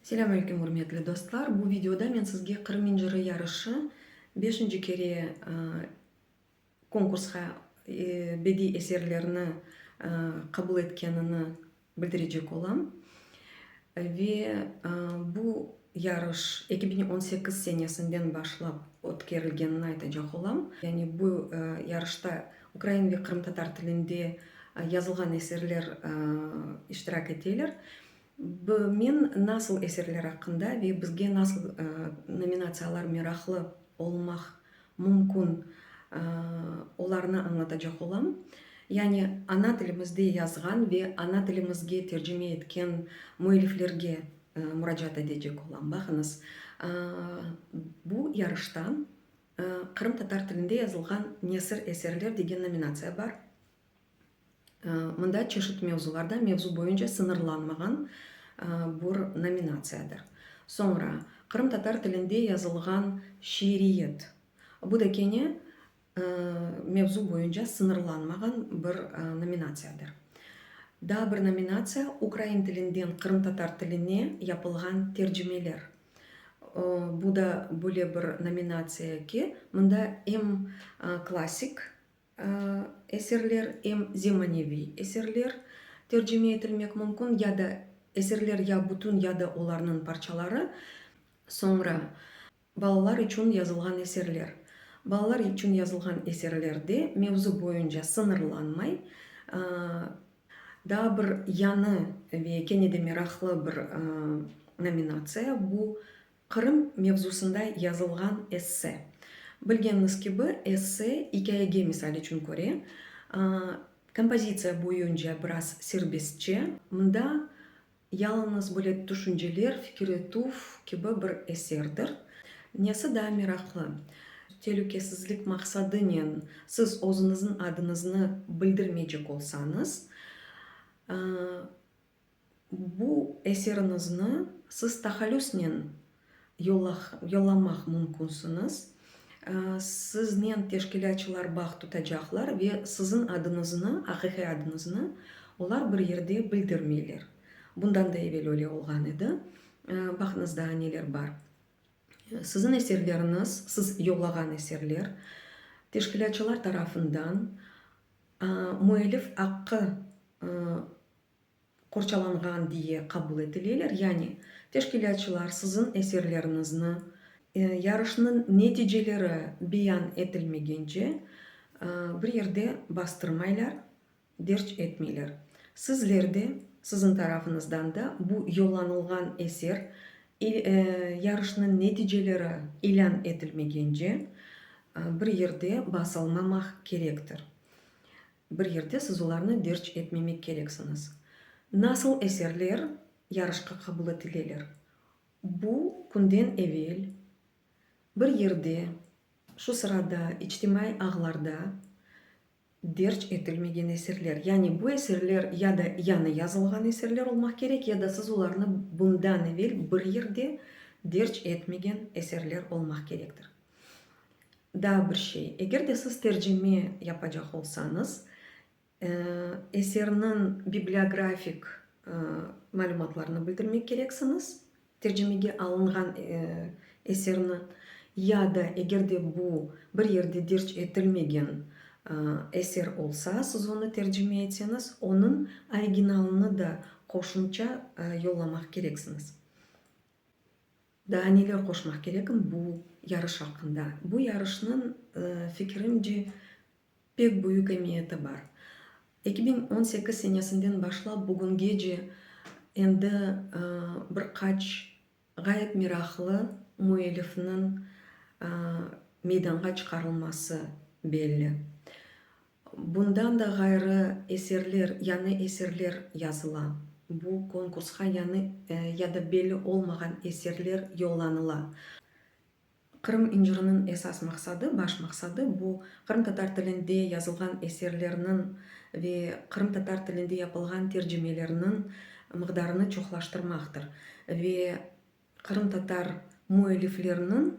Selâm aleyküm, ürmetli dostlar! Bu videoda men sizge Qırım inciri yarışı beşinci kere konkursqa bediy eserlerni qabul etkenini bildirecek olam. Ve bu Yarış eki biñ on sekiz senesinden başlap ötkerilgenini aytacaq olam. Yani bu yarışta ukrain ve qırımtatar tilinde yazılğan eserler iştirak eteler. Men nasıl eserler aqqında ve bizge nasıl nominatsiyalar meraqlı olmaq mümkün, olarnı añlatacaq olam. Yani ana tilimizde yazğan ve ana tilimizge tercime etken müelliflerge muracaat edecek olam. Baqıñız, bu yarışta qırımtatar tilinde yazılğan nesir, eserler degen nominatsiya bar. Mında çeşit mevzularda, mevzu boyunca sıñırlanmağan bir nominatsiyadır. Soñra qırımtatar tilinde yazılğan şiiriyet. Bu da kene Mevzu boyunca sıñırlanmağan bir nominatsiyadır. Daa bir nominatsiya, ukrain tilinden qırımtatar tiline yapılğan tercimeler. Bu da böyle bir nominatsiya ki, mında em klassik eserler, em zemaneviy eserler tercime etilmek mümkün, ya da eserler ya bütün, ya da olarnıñ parçaları. Soñra Balalar içün yazılğan eserler. Balalar içün yazılğan eserlerde mevzu boyunca sıñırlanmay, daa bir yañı ve kene de meraqlı bir nominatsiya, bu, Qırım mevzusında yazılğan esse. Bilgeñiz kibi, esse ikâyege, misal içün, köre, kompozitsiya boyunca biraz serbestçe, mında Yalıñız böyle tüşünceler, fikir etüv kibi bir eserdir. Nesi daa meraqlı, telükesizlik maqsadınen siz özüñizniñ adıñıznı bildirmeycek olsañız, bu eseriñizni siz tahallüsnen yollamaq mümkünsiniz. Siznen teşkilâtçılar bağ tutacaqlar ve siziñ adıñıznı, aqiqiy adıñıznı olar bir yerde bildirmeyler. Bundan da evel öyle olğan edi. Baqıñız daa neler bar. Siziñ eserleriñiz, siz yollağan eserler teşkilâtçılar tarafından müellif aqqı qorçalanğan diye qabul etileler, yani teşkilâtçılar siziñ eserleriñizni yarışnıñ neticeleri beyan etilmegence bir yerde bastırmaylar, derc etmeyler. Sizler de, siziñ tarafıñızdan da bu yollanılğan eser yarışnıñ neticeleri ilân etilmegence bir yerde basalmamaq kerektir. Bir yerde siz olarnı derc etmemek kereksiñiz. Nasıl eserler yarışqa qabul etileler? Bu künden evel bir yerde, şu sırada içtimaiy ağlarda derc etilmegen eserler. Yani bu eserler ya da yañı yazılğan eserler olmaq kerek, ya da siz olarnı bundan evel bir yerde derc etmegen eserler olmaq kerektir. Daa bir şey, eger de siz tercime yapacaq olsañız, eserniñ bibliografik malümatlarını bildirmek kereksiñiz, tercimege alınğan eserni, ya da eger de bu bir yerde derc etilmegen eser olsa, siz onı tercime etseñiz, onıñ originalını da qoşumça yollamaq kereksiñiz. Daa neler qoşmaq kerekim bu yarış aqqında? Bu yarışnıñ, fikirimce, pek büyük emiyeti bar. Eki biñ on sekiz senesinden başlap bugüngece endi bir qaç ğayet meraqlı müellifniñ meydanğa çıqarılması belli. Bundan da ğayrı eserler, yañı eserler yazıla. Bu konkursqa yañı ya da belli olmağan eserler yollanıla. Qırım inciriniñ esas maqsadı, baş maqsadı, bu, qırımtatar tilinde yazılğan eserlerniñ ve qırımtatar tilinde yapılğan tercimelerniñ mıqdarını çoqlaştırmaqtır ve qırımtatar müellifleriniñ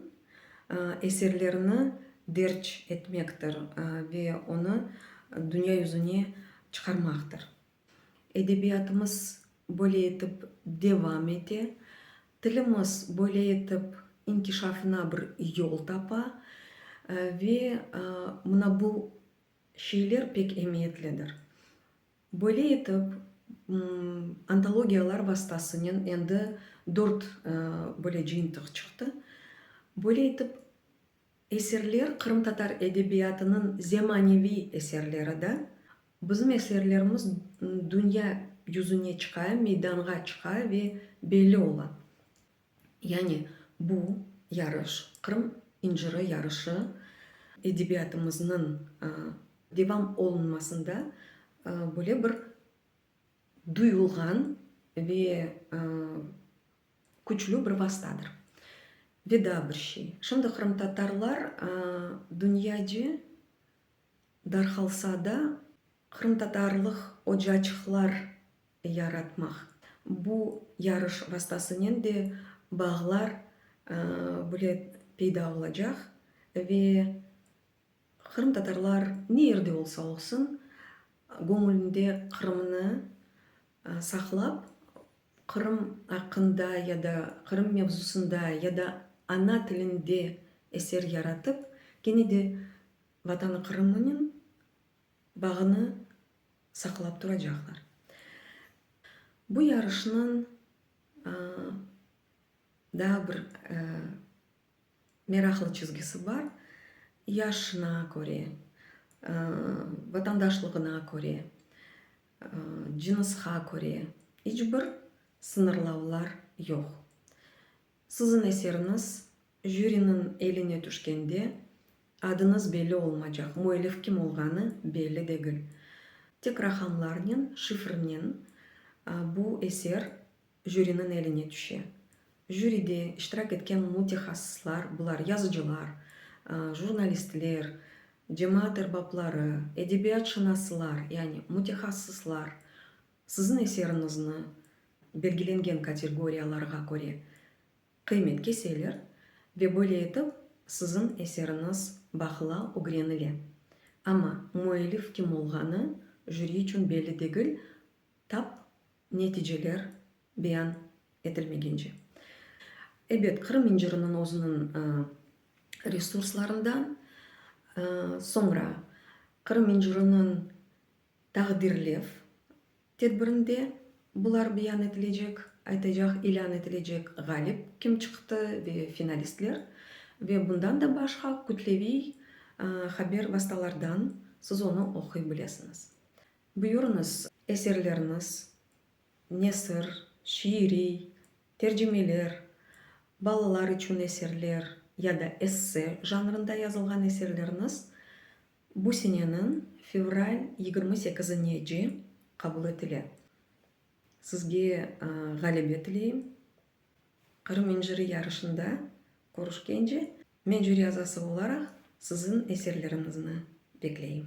eserlerini derc etmektir ve onı dünya yüzüne çıqarmaqtır. Edebiyatımız böyle etip devam ete, tilimiz böyle etip inkişafına bir yol tapa ve mına bu şeyler pek emiyetlidir. Böyle etip, antologiyalar vastasınen endi dört böyle cıyıntıq çıqtı. Böyle etip, eserler, qırımtatar edebiyatınıñ zemaneviy eserleri da, bizim eserlerimiz dünya yüzüne çıqa, meydanğa çıqa ve belli ola. Yani bu yarış, Qırım inciri yarışı edebiyatımıznıñ devam olunmasında böyle bir duyulğan ve küçlü bir vastadır. Ve daa bir şey, şimdi qırımtatarlar dünyaca Darhalsada qırımtatarlıq ocaçıqlar yaratmaq, bu yarış vastasınen de bağlar böyle peyda olacaq ve qırımtatarlar ne yerde olsa olsun, göñülünde Qırımnı saqlap, Qırım aqqında ya da Qırım mevzusında ya da ana tilinde eser yaratıp, kene de Vatanı Qırımnıñ bağını saqlap turacaqlar. Bu yarışnıñ daa bir meraqlı çizgisi bar, yaşına köre, vatandaşlığına köre, cınısqa köre iç bir sıñırlavlar yoq. Siziñ eseriniz jüriniñ eline tüşkende, adınız belli olmacaq, müellif kim olğanı belli degil. Tek raqamlarnen, şifrnen bu eser jüriniñ eline tüşe. Jüride iştirak etken mütehassıslar, bular, yazıcılar, jurnalistler, cemaat erbapları, edebiyatşınaslar, yani mütehassıslar, Siziñ eseriñizni belgilengen kategoriyalarğa köre qıymet keseler ve böyle etip siziñ eseriñiz bahıla ögrenile. Amma müellif kim olğanı jüri içün belli degil, tap neticeler beyan etilmegence. Ebet, Qırım inciriniñ özüniñ resurslarından, soñra Qırım inciriniñ Taqdirlev tedbirinde bular beyan etilecek, aytacaq, ilân etilecek ğalip kim çıqtı ve finalistler ve bundan da başqa kütleviy haber vastalardan siz onı oquy bilesiñiz. Buyurıñız, eserleriniz, nesir, şiiriy, tercimeler, balalar içün eserler ya da esse janrında yazılğan eserleriniz Bu seneniñ fevral yigirmi sekizinici qabul etile. Sizge ğalebe tileyim. Qırım inciri yarışında körüşkence, men jüri azası olaraq siziñ eserleriñizni bekleyim.